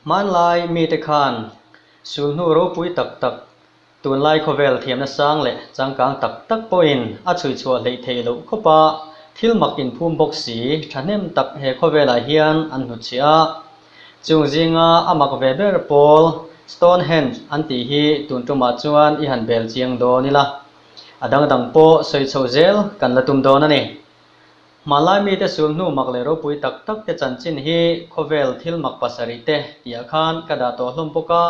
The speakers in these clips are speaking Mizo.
Hmanlai mite khan sulhnu ropui tak tak, tunlai khawvel thiamna sang leh changkang tak tak pawhin a chhuihchhuah hleih theih loh khawp a, thil mak inphum bawk si thahnem tak he khawvelah hian an hnutchhiah a. Chung zinga a mak ve ber pawl Stonehenge an tih hi tun tumah chuan i han bel chiang dawn ila, a dang dang pawh sawi chho zel kan la tum dawn a ni. Hmanlai mite sul hnu mak leh ropui tak tak te chanchin hi khawvel thil mak pasarih te tihah khan ka dah tawh hlawm bawk a,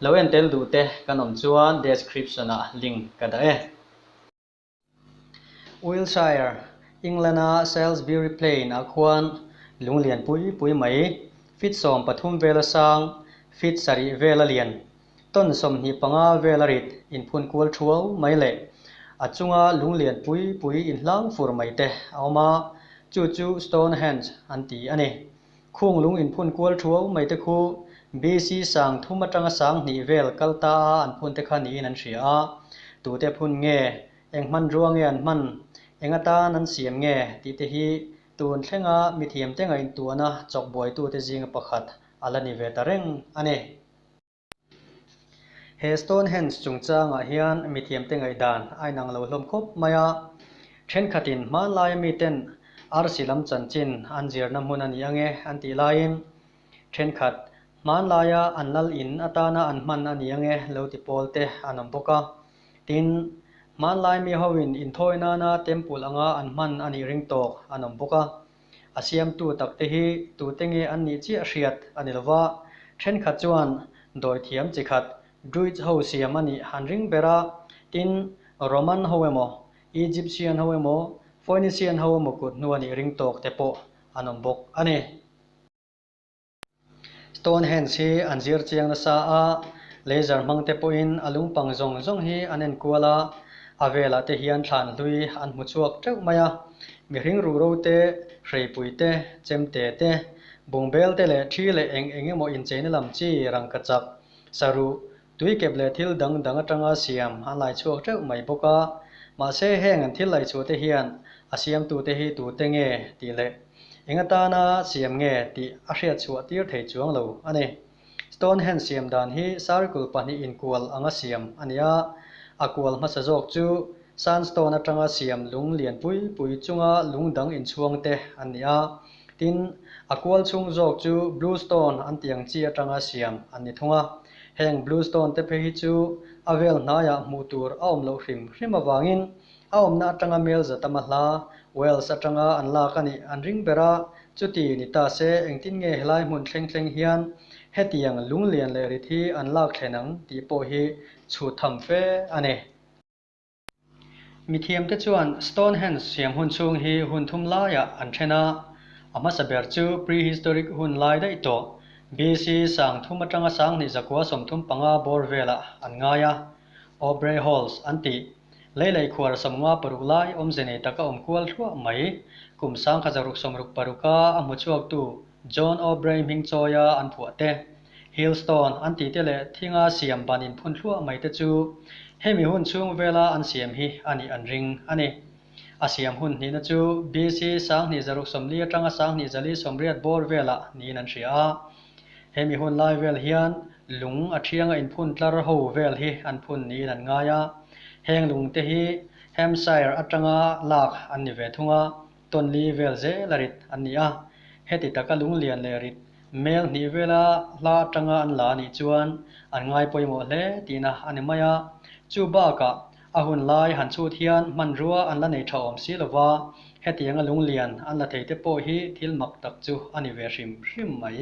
lo en tel duh te kan awm chuan description-ah link ka dah e. Wiltshire, England a Salisbury Plain ah khuan lung lian pui pui mai, feet sawm pathum vel a sang, feet sarih vel a lian, ton sawmhnih panga vel a rit, inphun kual thuau mai leh a chunga lung lian pui pui inhlang fur mai te a awm a, chu chu Stonehenge an ti a ni. Khung lung in phun kual thu au mai te khu BC sang thum atanga sang hnih vel kal ta a an phun te kha niin an hria a, tute a phun nge, eng hman rua nge an hman, eng atan an siam nge tih te hi tun thlenga mithiam tenga intuahna chawk buaitute zinga pakhat a la ni ve ta reng a ni. He Stonehenge chungchangah hian mithiamte ngaihdan a inang lo hlawm khawp mai a. Thenkhatin hmanlaia miten arsi lam chanchin an zirna hmun a ni ange an tih laiin, thenkhat hmanlaia an lal in atana an hman a ni ange lo ti pawl te an awm bawk a. Tin, hmanlai mihoin inthawi nana temple anga an hman a nih ring tawk an awm bawk a. a siamtu takte hi tute nge an nih chiah hriat a ni lova, thenkhat chuan dawithiam chi khat Druids ho siam a nih han ring ber a, tin, Roman ho emaw, Egyptian ho emaw, Phoenician ho emaw kut hnu a nih ring tawkte pawh an awm bawk a ni. Stonehenge hi an zir chiang nasa a, laser hmang te pawhin a lungpang zawng zawng hi an en kual a, a velah te hian thlan hlui an hmu chhuak teuh mai a, mihring ruhro te, hreipui te, chemte te, bungbel te leh thi leh eng eng emaw incheina lam chi, rangkachak, saruh, Tui kep leh thil dang dang atanga siam an laichhuak teuh mai bawk a, mahse heng an thil laichhuahte hian a siamtute hi tute nge tih leh eng atana siam nge tih a hriatchhuah tir thei chuang lo a ni. Stonehenge siam dan hi sarikul pahnih inkual anga siam a ni a, a kual hmasa zawk chu sandstone atanga siam lung lian pui pui chunga lungdang inchhuangte an ni a, Tin, a kual chhung zawk chu Blue Stone an tih ang chi atanga siam an ni thung a. Heng Blue Stone te phe hi chu a vel hnaiah hmuh tur a awm loh hrim hrim avangin a awmna atanga melza tama hla Wales atanga an lak a nih an ring ber a. Chuti ni ta se, engtin nge helai hmun thleng thleng hian hetiang lunglian leh rit hi an lak thlen ang tih pawh hi chhut tham fe a ni. Mithiamte chuan Stonehenge siamhun chhung hi hun thum laiah an then a, a hmasa ber chu prehistoric hun lai daih tawh, BC. sang thum atanga sanghnih zakua sawmthum panga bawr velah an ngai a, Aubrey Halls an ti. Lei lei khuara sawmnga paruk lai awmze nei tak a awm kual hluah mai, kum sangkha zaruk sawmruk paruka a hmuchhuaktu John Aubrey hming chawia an phuah te, Hillstone an tih te leh thinga siam ban in phun thluah mai te chu hemi hun chhung vela an siam hi a nih an ring a ni. A siam hun hnihna chu BC Sanghnih zaruk sawmli atanga Sanghnih zali sawmriat bawr vela niin an hria a, hemi hun lai vel hian lung a thianga in phun tlar ho vel hi an phun niin an ngai a, heng lung te hi Hampshire atanga lak an ni ve thung a. Tonli vel zel a rit an ni a, heti taka lunglian leh rit hmel hnih vela hla atanga an la nih chuan an ngai pawimawh hle tihna a ni mai a, chu bakah a hun lai han chhut hian hmanrua an la nei tha awm si lova, heti anga lunglian an la thei te pawh hi thil mak tak chu a ni ve hrim hrim mai.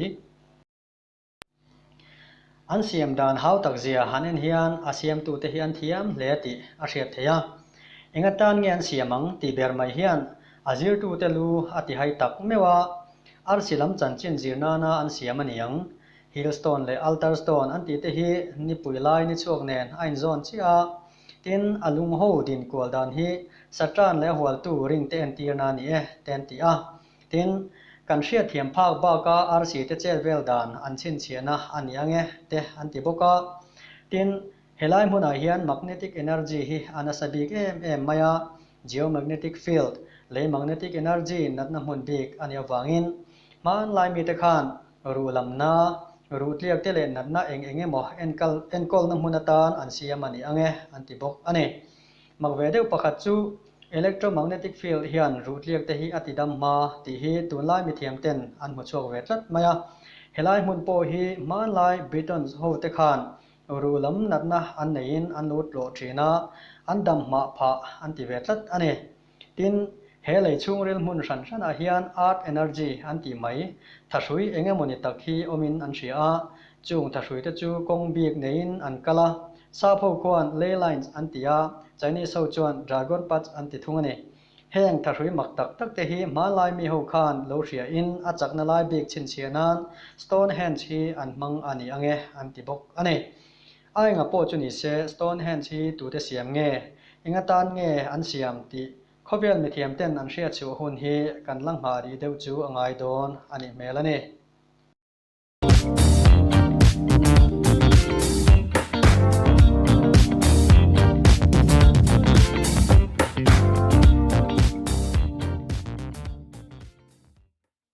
An siam dan hau tak zia han en hian a siamtute hi an thiam hle tih a hriat theih a. Enga tan nge an siam ang tih ber mai hian a zirtute lu a ti hai tak meuh a, arsi lam chanchin zir nana an siam a ni ang. Hill stone leh altar stone an tihte hi nipui lai ni chhuak nen a inzawn chiah a, tin a lungho din kual dan hi Satan leh a hualtu ringte entirna a ni e te an ti a, Tin, kan hriatthiam phak baka RC te chel vel dan an chhinchhiahna a ni ange te an ti bawk a. Tin, helai hmunah hian magnetic energy hi a nasa bik em em mai a, geomagnetic field, lei magnetic energy natna hmun bik a nih avangin hmanlai mite khan ruh lamna, ruh tliak te leh natna eng eng emaw enkal enkawlna hmun atan an siam a ni ange an ti bawk a ni. Mak ve deuh pakhat chu, Electromagnetic field hian ruhtliak te hi a tidam hma tih hi tunlai mithiam ten an hmu chhuak ve tlat mai a. Helai hmun pawh hi hmanlai Britons hote khan ruh lam natna an neiin an lo tlawh thin a, an damhmah phah an ti ve tlat a ni. Tin, he lei chhungril hmun hran hranah hian Art Energy an tih mai thahrui eng emaw ni tak hi awmin an hria a, chung thahrui te chu kawng bik neiin an kal a, Sapho khuan Ley Lines an ti a, Chinese ho chuan Dragon Parts an ti thung a ni. Heng thahrui mak tak tak te hi hmanlai mi ho khan lo hriain a chakna lai bik chhinchhiah nan Stonehenge hi an hmang a ni ang e an ti bawk a ni. A enga pawh chu ni se, Stonehenge hi tute siam nge, enga tan nge an siam tih khawvel mithiam ten an hriat chhuah hun hi kan la nghah rih deuh chu a ngai dawn a nih hmel a ni.